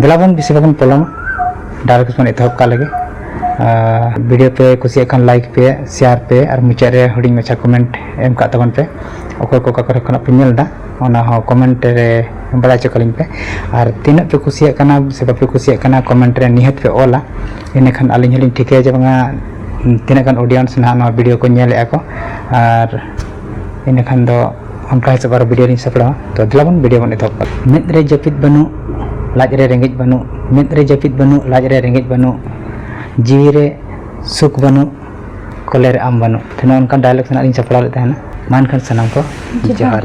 ᱫᱮᱞᱟᱵᱚᱱ ᱵᱮᱥᱤ ᱵᱟᱵᱚᱱ ᱯᱚᱞᱚᱢᱟ ᱰᱟᱭᱨᱮᱠᱴ ᱵᱚᱱ ᱮᱛᱚᱦᱚᱵ ᱠᱟᱜ ᱞᱮᱜᱮ ᱵᱷᱤᱰᱤᱭᱳ ᱯᱮ ᱠᱩᱥᱤᱭᱟᱜ ᱠᱷᱟᱱ ᱞᱟᱭᱤᱠ ᱯᱮ ᱥᱮᱭᱟᱨ ᱯᱮ ᱟᱨ ᱢᱩᱪᱟᱹᱫ ᱨᱮ ᱦᱩᱰᱤᱧ ᱢᱟᱪᱷᱟ ᱠᱚᱢᱮᱱᱴ ᱮᱢ ᱠᱟᱜ ᱛᱟᱵᱚᱱ ᱯᱮ ᱚᱠᱚᱭ ᱠᱚ ᱚᱠᱟ ᱠᱚᱨᱮ ᱠᱷᱚᱱᱟᱜ ᱯᱮ ᱧᱮᱞ ᱮᱫᱟ ᱚᱱᱟ ᱦᱚᱸ ᱠᱚᱢᱮᱱᱴ ᱨᱮ ᱵᱟᱲᱟᱭ ᱦᱚᱪᱚ ᱠᱟᱞᱤᱧ ᱯᱮ ᱟᱨ ᱛᱤᱱᱟᱹᱜ ᱯᱮ ᱠᱩᱥᱤᱭᱟᱜ ᱠᱟᱱᱟ ᱥᱮ ᱵᱟᱯᱮ ᱠᱩᱥᱤᱭᱟᱜ ᱠᱟᱱᱟ ᱠᱚᱢᱮᱱᱴ ᱨᱮ ᱱᱤᱦᱟᱹᱛ ᱯᱮ ᱚᱞᱟ ᱤᱱᱟᱹᱠᱷᱟᱱ ᱟᱹᱞᱤᱧ ᱦᱚᱸᱞᱤᱧ ᱴᱷᱤᱠᱟᱹᱭᱟ ᱡᱮ ᱵᱟᱝᱟ ᱛᱤᱱᱟᱹᱜ ᱜᱟᱱ ᱚᱰᱤᱭᱮᱱᱥ ᱱᱟᱦᱟᱜ ᱱᱚᱣᱟ ᱵᱷᱤᱰᱤᱭᱳ ᱠᱚ ᱧᱮᱞᱮᱜᱼᱟ ᱠᱚ ᱟᱨ ᱤᱱᱟᱹᱠᱷᱟᱱ ᱫᱚ ᱚᱱᱠᱟ ᱦᱤᱥᱟᱹᱵ ᱟᱨᱚ ᱵᱷᱤᱰᱤᱭᱳ ᱞᱤᱧ ᱥᱟᱯᱲᱟᱣᱟ ᱛᱚ ᱫᱮᱞᱟ ᱵᱚᱱ ᱵᱷᱤᱰᱤᱭᱳ ᱵᱚᱱ ᱮᱛᱚᱦᱚᱵ ᱠᱟᱜᱼᱟ ᱢᱮᱫ ᱨᱮ ᱡᱟᱹᱯᱤᱫ ᱵᱟᱹᱱᱩᱜ ᱞᱟᱡ ᱨᱮ ᱨᱮᱸᱜᱮᱡ ᱵᱟᱹᱱᱩᱜ ᱢᱮᱫ ᱨᱮ ᱡᱟᱹᱯᱤᱫ ᱵᱟᱹᱱᱩᱜ ᱞᱟᱡ ᱨᱮ ᱨᱮᱸᱜᱮᱡ ᱵᱟᱹᱱᱩᱜ ᱡᱤᱣᱤ ᱨᱮ ᱥᱩᱠ ᱵᱟᱹᱱᱩᱜ ᱠᱚᱞᱮ ᱨᱮ ᱟᱢ ᱵᱟᱹᱱᱩᱜ ᱛᱚ ᱱᱚᱜᱼᱚ ᱱᱚᱝᱠᱟᱱ ᱰᱟᱭᱞᱚᱜᱽ ᱥᱟᱞᱟᱜ ᱞᱤᱧ ᱥᱟᱯᱲᱟᱣ ᱞᱮᱫ ᱛᱟᱦᱮᱱᱟ ᱢᱟ ᱮᱱᱠᱷᱟᱱ ᱥᱟᱱᱟᱢ ᱠᱚ ᱡᱚᱦᱟᱨ ᱜᱮ